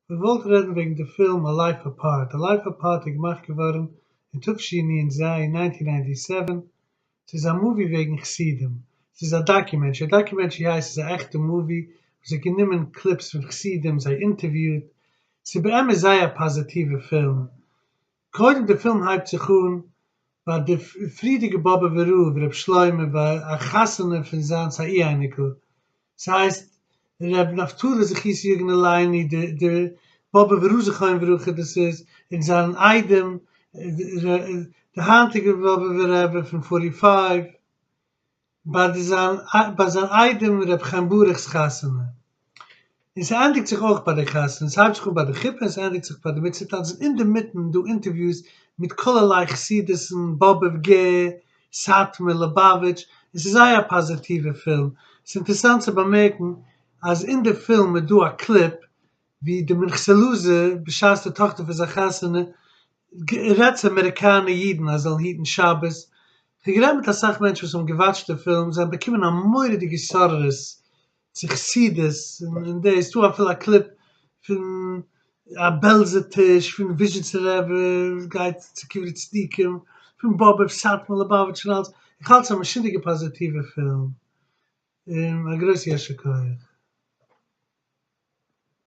כ'וואלט רעדן וועגן די פילם א לייף אפארט, א לייף אפארט איז געמאכט געווארן אין תשי נ ז נײַנצן נײַנטי סעווען, ס'איז א מאווי וועגן חסידים, ס'איז א דאקיומענטרי, א דאקיומענטרי הייסט ס'איז א עכטע מאווי וואס האט גענומען קליפס פון חסידים זיי אינטערוויוט, ס'איז באמת זייער א פאזעטיווע פילם, קודם די פילם הייבט זיך אן ביי די פריערדיגע באבובער רב ר' שלמה ביי א חתונה פון זיינס א אי אייניקל, ס'הייסט ר' נפתלי זכות יגן עלינו די די באבובער רב זכרון לברכה דאס איז, און זיין איידעם די היינטיגע באבובער רבי פון פארטי פייוו. ביי זיין ביי זיין איידעם ר' חיים ברוך'ס חתונה, און ס'ענדיגט זיך אויך ביי די חתונה, ס'הייבט זיך אן ביי די חופה און ס'ענדיגט זיך ביי די מצוה טאנץ, און אינדערמיטן דא אינטערוויוס מיט כלערליי חסידות'ן, באבוב ג, סאטמאר, לובאוויטש, און ס'איז זייער א פאזיטיווע פילם, ס'אינטערסאנט צו באמערקן אז אין די פילם איז דא א קליפ ווי די מנכס'לאזע, בשעת די טאכטער פון זיין חתונה, רעדט צו אמעריקאנע אידן אז זיי זאלן היטן שבת. איך האב גערעדט מיט אסאך מענטשן וואס האבן געוואטשט די פילם, זיי האבן באקומען א מורא'דיגע התעוררות צו חסידות, און דאס איז דא אפילו א קליפ פון א בעלזע טיש פון וויזשניצער רבי וואס גייט צו קברי צדיקים, פון באבוב, סאטמאר, ליבאוויטש און אלעס, איך האלט ס'איז א משוגע'דיגע פאזיטיווע פילם, און א גרויס יישר כח.